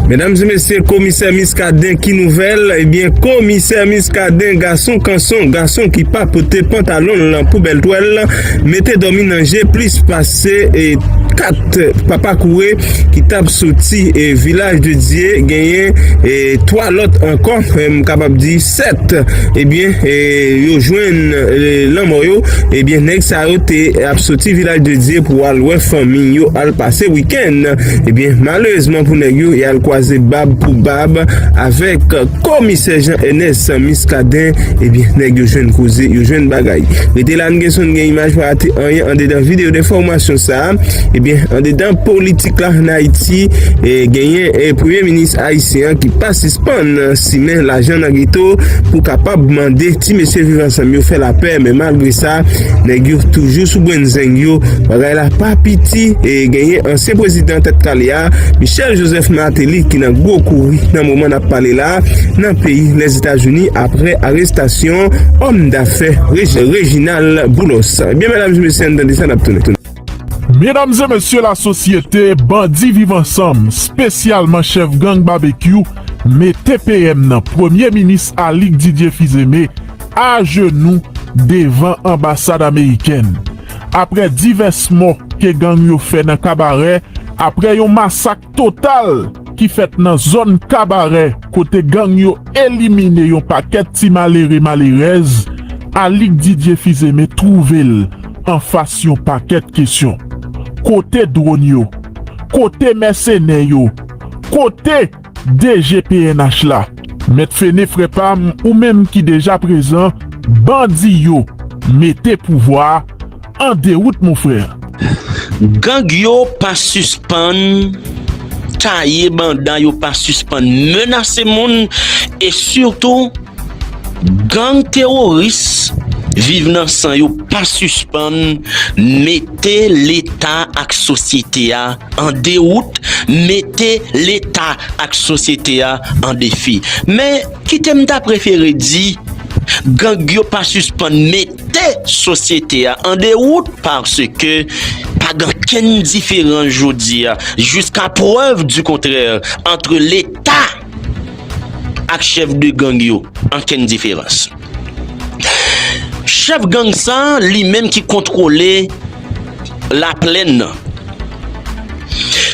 Medam e mesye komisè miskaden ki nouvèl ebyen komisè miskaden gason kanson gason ki pa pote pantalonl nan pou bèl twèl mete dòmi nan je plis pase 4 papa koure ki tap soti vilaj de dye genyen 3 lòt ankò m kapab di 7 ebyen yo jwenn lanmò yo ebyen nèg sa yo te ap soti vilaj de dye pou al wè fanmi yo al pase wikèn. Kenn, ebyen malerezman pou nèg yo, y al kwaze bab pou bab avèk Komisè Jean Ernest Muscadin, ebyen nèg yo jwenn koze, yo jwenn bagay. Rete la n gen son n gen imaj pa rate anyen andedan videyo denfòmasyon sa, ebyen andedan politik la an Ayiti genyen premye minis ayisyen an ki pa sispann simen lajan nan geto pou kapab mande ti mesye viv ansanm yo fè lapè men malgre sa nèg yo toujou sou bwennzeng yo. la pa piti e genyen ansyen prezidan tèt kale a, Michel Joseph Martelly ki nan gwo kouri nan moman n ap pale la nan peyi Lèzetazini apre arestasyon òm dafè Reginald Boulos. Ebyen medam e mesye ann tande sa n ap tounen. Medam e mesye lasosyete bandi viv ansanm spesyalman chèf gang Babekyou mete PM nan premye minis Alix Didier Fizeme ajenou devan anbasad amerikèn. aprè divès mò ke gang yo fè nan Kabarè aprè yon masak total ki fèt nan zòn Kabarè kote gang yo elimine yon pakèt ti malere malerèz, Alix Didier Fils-Aimé twouve l anfas yon pakèt kesyon. Kote dwòn yo? Kote mèsenè yo? Kote. DG pnh la mèt fene frè pam ou menm ki deja prezan bandi yo mete pouvwa an derout mon frè. Gang yo pa sispann taye banda yo pa sispann menase moun e sitou Gang teworis viv nan san yo pa sispann mete leta ak sosyete a an dewout, mete leta ak sosyete a an defi. Men, kite m ta prefere di, gang yo pa sispann mete sosyete a an dewout paske pa gen okenn diferans jodi a jiska prèv di kontrè antre leta. ak chèf de gang yo ankenn diferans. Chèf gang sa li menm ki kontwole laplèn nan.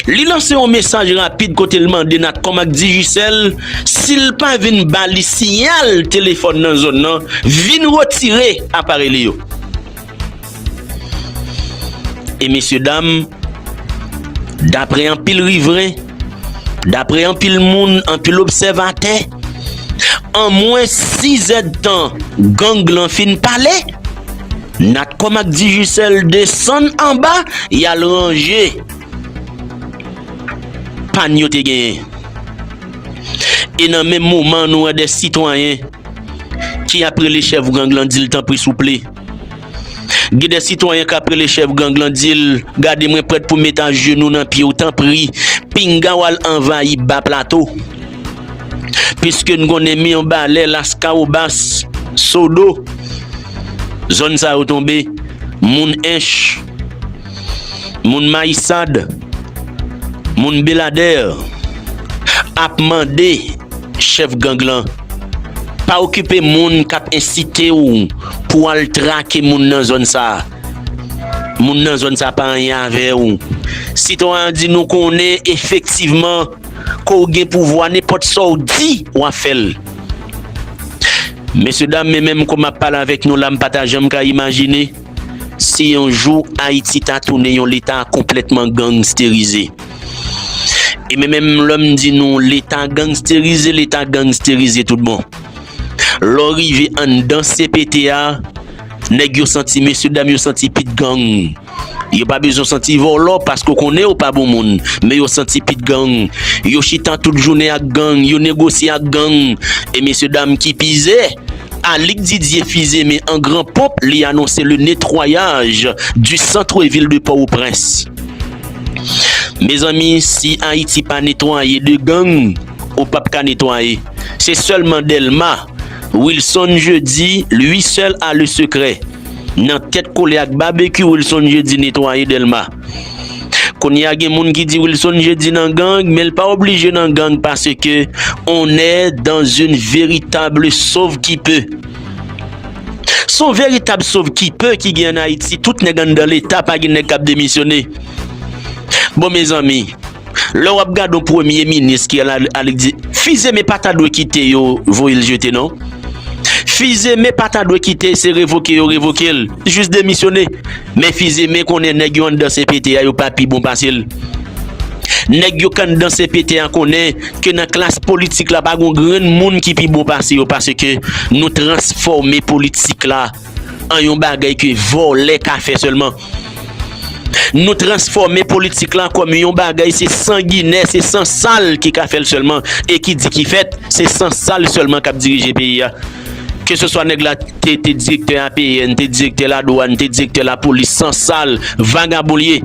Li lanse yon mesaj rapid kote l mande Natcom ak Digicel si l pa vin ba li siyal telefòn nan zòn nan vin retire aparèy li yo. E mesye dam, dapre anpil rivren, dapre anpil moun, anpil obsèvatè, an mwen 6 èd tan gang lan fin pale, Natcom ak Digicel desann anba y al ranje pàn yo te genyen. E nan menm moman nou wè 2 sitwayen ki ap rele chèf gang lan di l tanpri souple. Gen de sitwayen kap rele chèf gang lan di l, gade mwen prèt pou met ajenou nan pye w tanpri pinga w al anvayi ba plato. Piske n konnen Mirbalè, Laskawobas, Sodo, zòn sa yo tonbe, moun Ench, Moun Mayisad, moun Beladèr ap mande chèf gang lan pa okipe moun k ap ensite w pou w al trake moun nan zòn sa. Moun nan zòn sa pa anyen avè w. Sitwayen an di nou konnen efektivman ke w gen pouvwa nenpòt sa w di w ap fè l. Mesye dam men menm kou m ap pale avèk nou la m pa ta janm ka imajine. Si yon jou Ayiti ta tounen yon leta konplètman gangsterize, e men menm lè m di nou leta gangsterize, leta gangsterize tout bon, lè w rive anndan cpt a, nèg yo santi, mesye dam yo santi pit gang. Yo pa bezwen santi vòlò paske w konnen yo pa bon moun, men yo santi pit gang. Yo chita tout jounen ak gang, yo negosye ak gang, e mesye dam ki pi ize, Alix Didier Fils-Aimé an gran ponp li anonse le netwayaj du centre ville de Port-au-Prince. Mezanmi si Ayiti pa netwaye de gang ou pap ka netwaye. Se sèlman Delma, Wilson Jeudi lui seul a le secret. Nan tèt kole ak Babekyou Wilson Jeudi netwaye Delma. Kounye a gen moun ki di Wilson Jeudi nan gang, men l pa oblije nan gang paske on è dan zin veritable sov ki pe. Son veritab sov ki pe ki gen an Ayiti, tout nèg anndan leta pa gen nèg k ap demisyone. Bon mezanmi. Lè wap gad yon premye minis ki al annik di fizeme pa ta dwe kite yo voye l jete non fizeme pa ta dwe kite se revoke yo revoke l jis demisyone men fizeme konnen nèg yo anndan cpt a yo pa pi bon pase l nèg yo k anndan cpt a konnen ke nan klas politik la pa gon grenn moun ki pi bon pase yo paske nou transfòme politik la an yon bagay ke vòlè ka fè sèlman. Nou transfòme politik lan kòm yon bagay se sanginè, se san sal ki ka fè l sèlman. E ki di ki fèt, se san sal sèlman k ap dirije peyi a. Ke se swa nèg la te direktè APN, te direktè ladwàn, te direktè lapolis, san sal, vagabon l ye.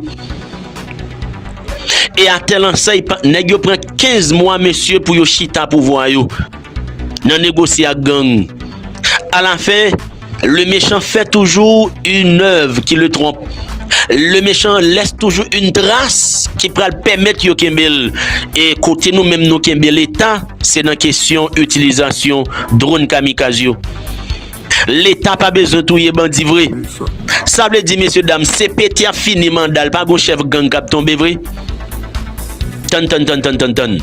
E a tèl ansèy, nèg yo pran 15 mwa mesye pou yo chita pouvwa yo. Nan negosye ak gang. A la fen, le mechan fè toujou yn èv ki le twonp. Le mechan lès toujou yn tras ki pral pèmèt yo kenbe l. E kote nou menm nou kenbe leta, se nan kesyon itilizasyon dron kamikaz yo. Leta pa bezwen touye bandi vre. Sa vle di mesye dam CPT ap fini manda l pa gon chèf gang k ap tonbe vre? Tann tann tann tann tann tann.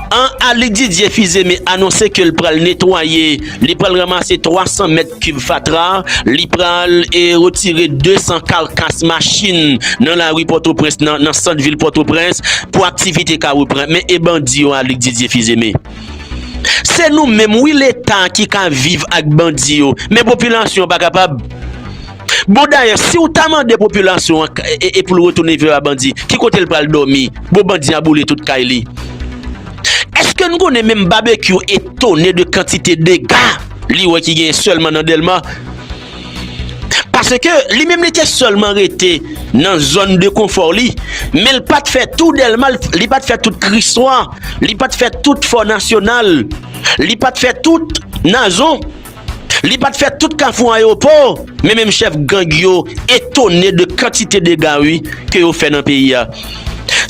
An Ali Didier Fils-Aimé anonse ke l pral netwaye, li pral ranmase 300 mèt kib fatra, li pral e retire 200 karkas machin nan lari Pòtoprens nan, nan sant vil Pòtoprens pou aktivite ka repran. Men e bandi yo Ali Didier Fils-Aimé. Se nou menm wi leta ki ka viv ak bandi yo men popilasyon pa kapab bon dayè si ou ta mande popilasyon an e pou l retounen viv a bandi ki kote l pral dòmi bon bandi a boule tout kay li èske nou konnen menm babekyou etone de kantite dega li wè ki gen sèlman nan dèlma. Paske li menm li te sèlman rete nan zòn de konfò li, men li pa t fè tou Dèlma, li pa t fè tout Kriswa, li pa t fè tout Fò Nasyonal, li pa t fè tout Nazon, li pa t fè tout Kafou Ayewopò, men menm chèf gang yo etone de kantite dega wi ke yo fè nan peyi a.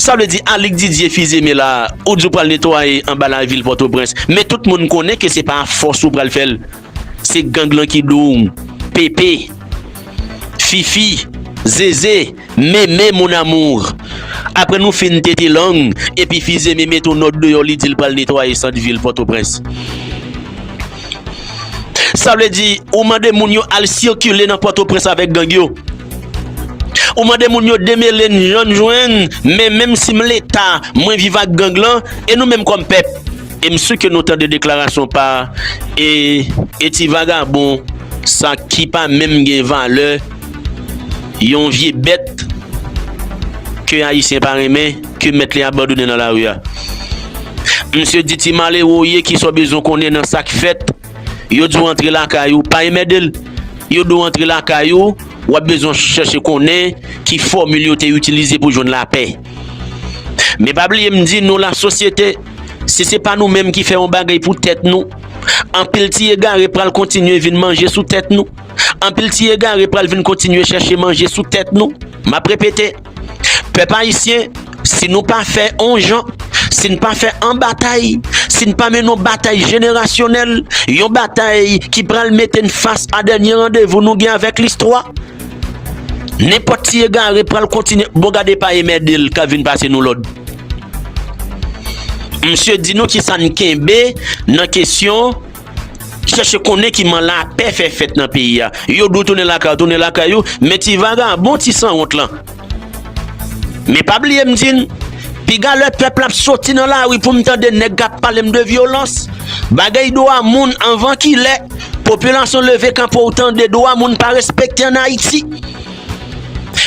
Sa vle di Alyk Didier Fils-Aimé la ou di w pral netwaye anba lavil Pòtoprens, men tout moun konnen ke se pa a fòs ou pral fè l. Se gang lan ki doum. Pepe. Fifi. Zeze. Meme mon amour. Apre nou fin tete lang epi Fizeme mete yon nòt deyò li di l pral netwaye sant vil Pòtoprens. Sa vle di ou mande moun yo al sikile nan Pòtoprens avèk gang yo. Ou mande moun yo demele n jan n jwenn men menm si m leta mwen viv ak gang lan e nou menm kòm pèp. E m su ke nou tande deklarasyon pa e e ti vagabon sa ki pa menm gen valè yon vye bèt ke Ayisyen pa renmen ke mèt li abandone nan lari a. Misye di ti malere w ye kisa w bezwen konnen nan sa k fèt. Yo di w antre lakay ou, pa enmède l. Yo di w antre lakay ou, w ap bezwen chèche konnen ki fòmil yo te itilize pou jwenn lapè. Men pa bliye m di nou lasosyete. Si se pa nou menm ki fè yon bagay pou tèt nou, anpil ti egare pral kontinye vin manje sou tèt nou. Anpil ti egare pral vin kontinye chèche manje sou tèt nou. M ap repete, pèp ayisyen, si nou pa fè yon jan, si n pa fè yon batay, si n pa mennen yon batay jenerasyonèl, yon batay ki pral mete n fas a dènye randevou nou gen avèk listwa, Nenpòt ti egare pral kontinye bon gade pa emèdel kap vin pase nou lòd msye di nou kisa n kenbe nan kesyon chèche konnen kiman lapè fè fèt nan peyi a yo dwe tounen lakay yo tounen lakay yo men ti vagabon ti sanwont lan. Men pa bliye m di n, piga lè pèp la ap soti nan lari pou m tande nèg k ap pale m de vyolans, bagay dwa moun anvan ki lè, popilasyon leve kanpe w tande dwa moun pa respekte an Ayiti.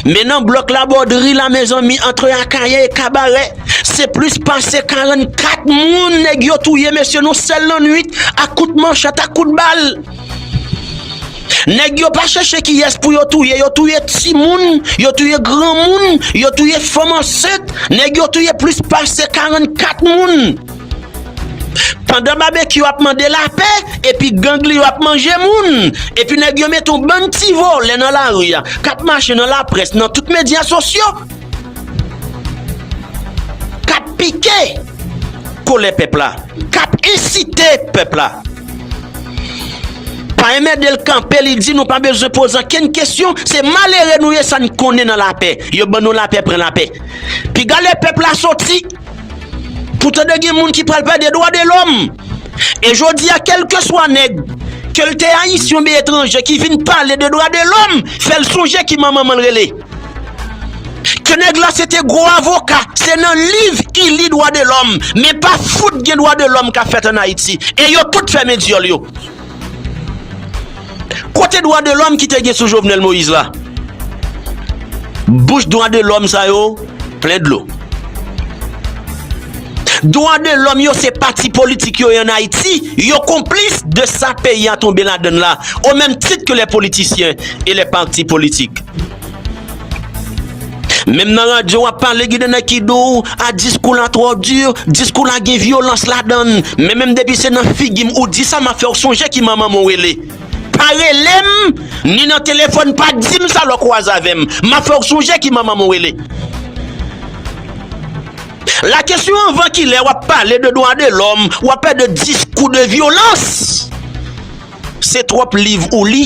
Men nan blòk Labòdri la mezanmi antre Akayè e Kabarè se plis pase 44 moun nèg yo touye mesye nou sèl nan nwit ak kout manchet ak kout bal. Nèg yo pa chèche kiyès pou yo touye, yo touye timoun, yo touye granmoun, yo touye fanm ansent, nèg yo touye plis pase 44 moun. Pandan Babekyou ap mande lapè, epi gang li yo ap manje moun, epi nèg yo mete yon bann ti vòlè nan lari a, k ap mache nan laprès, nan tout medya sosyo. K ap pike kolè pèp la. K ap ensite pèp la. Pa enmède l kanpe li di nou pa bezwen poze ankenn kesyon se malere nou ye sa n konnen nan lapè yo ban nou lapè pran lapè piga lè pèp la soti pou tande gen moun ki pral pale de dwa de lòm e jodi a kèlkeswa nèg ke l te ayisyen oubyen etranje ki vin pale de dwa de lòm fè l sonje ki manman manman l rele. Ke nèg la se te gwo avoka, se nan liv I li dwa de lòm, men pa fout gen dwa de lòm ka fèt an Ayiti. E yo tout fèmen dyòl yo. Kote dwa de lòm ki te gen sou Jovenel Moïse la? Bouch dwa de lòm sa yo plen dlo. Dwa de lòm yo se pati politik yo ye an Ayiti, yo konplis de sa peyi a tonbe ladan l la, o menm tit ke lè politisyen e lè pati politik. Menm nan radyo wap pale ginen nèg ki di w, a diskou la twò di, diskou la gen vyolans ladan l, men menm depi se nan figi m ou di sa map fè w sonje ki manman m ou rele. Pa rele m, ni nan telefòn pa di m sa lè w kwaze avè m, map fè w sonje ki manman m ou rele. La kesyon anvan kilè wap pale de dwa de lòm wap pè de diskou de vyolans se tròp liv ou li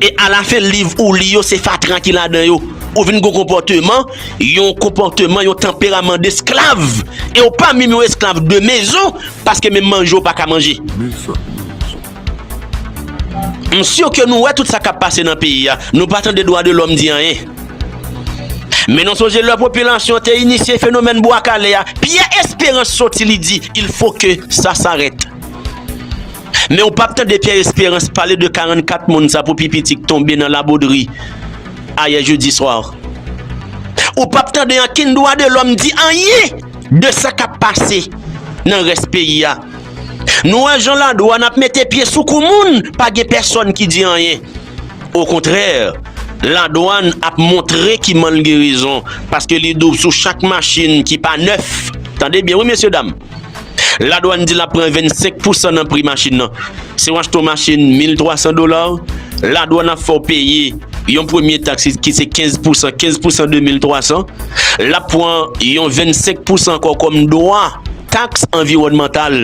e ala fen liv ou li yo se fatra ki la dan yo ou vin gou konpòteman yon konpòteman yon tanperaman de sklav e ou pa minm yon esklav de mezon paske menm manje ou pa ka manje. M sur ke nou wè tout sa kap pase nan peyi a, nou pa tande dwa de lòm di anyen. Men nou sonje lè popilasyon te inisye fenomèn bwa kale a, Pyè Esperans soti li di il fo ke sa sarèt. Men ou pap tande Pyè Esperans pale de 44 moun sa pou pi piti k tonbe nan Labodri ayè jedi swa. Ou pap tande ankenn dwa de lòm di anyen de sa kap pase nan rès peyi a. Nou wè jan la douane ap mete pye sou kou moun, pa gen pèsòn ki di anyen. Okontrè, la douane ap montre ki malgerezon paske li doub sou chak machin ki pa nèf. Tande byen wi mesye dam. La douane di l ap pran 25 pousan nan pri machin nan. Si w achte yon machin 1300 dola, la douane ap fè w peye yon premye taks ki se 15 pousan, 15 pousan de 1300. L ap pran yon 25 pousan ankò kòm dwa. Taks anviwònmantal,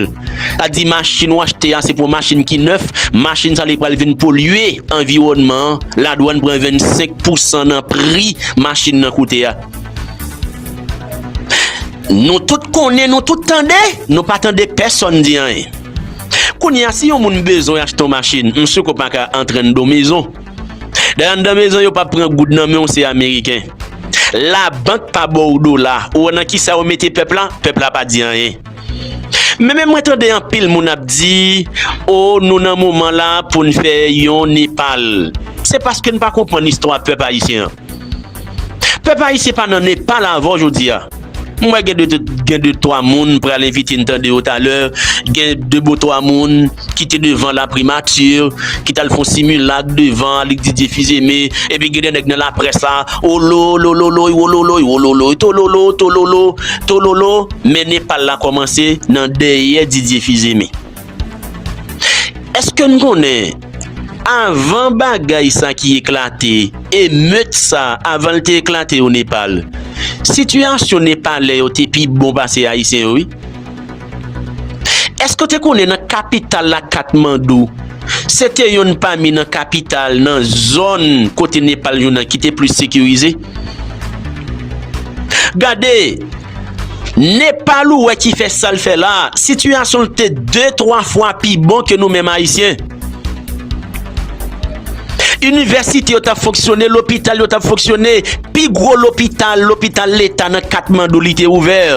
sa di machin ou achte a se pou yon machin ki nèf, machin sa li pral vin polye anviwònman an, ladwàn pran 25 pousan nan pri machin nan koute a. Nou tout konnen, nou tout tande, nou pa tande pèsòn di anyen. Kounye a si yon moun bezwen achte yon machin, mswe ke w pa ka antre anndan yon mezon, Dayè anndan mezon yo pa pran goud nan men w se ameriken. Labank pa ba w dola, ou wè nan kisa yo mete pèp la, pèp la pa di anyen. Men men mwen tande anpil moun ap di oh nou nan moman la pou n fè yon Nepal. Se paske n pa konprann istwa pèp ayisyen an. Pèp ayisyen pa nan Nepal avèw jodia. M wè gen de twa moun m pral envite n tande yo talè, gen de bon twa moun ki te devan la primati, ki t al fon similak devan Alig Didye Fizeme, epi gen de nèg nan laprès la, olo, lololoy, wololoy, wololoy, tololo, tololo, tololo, men Nepal la kòmanse nan dèyè Didye Fizeme. Eske n konnen avan bagay sa ki eklate, emeut sa avan l te eklate o Nepal, sitiyasyon Nepalè yo te pi bon pase Ayisyen yo wi? Eske w te konnen nan kapital la Katmandou, se te yonn pami nan kapital nan zòn kote Nepal jounen an ki te plis sekirize? Gade! Nepal ou wè ki fè sal fè la, sitiyasyon l te de twa fwa pi bon ke nou menm ayisyen. Inivèsite yo t ap fonksyone, lopital yo t ap fonksyone, pi gwo lopital, lopital leta nan Katmandou li te ouvè.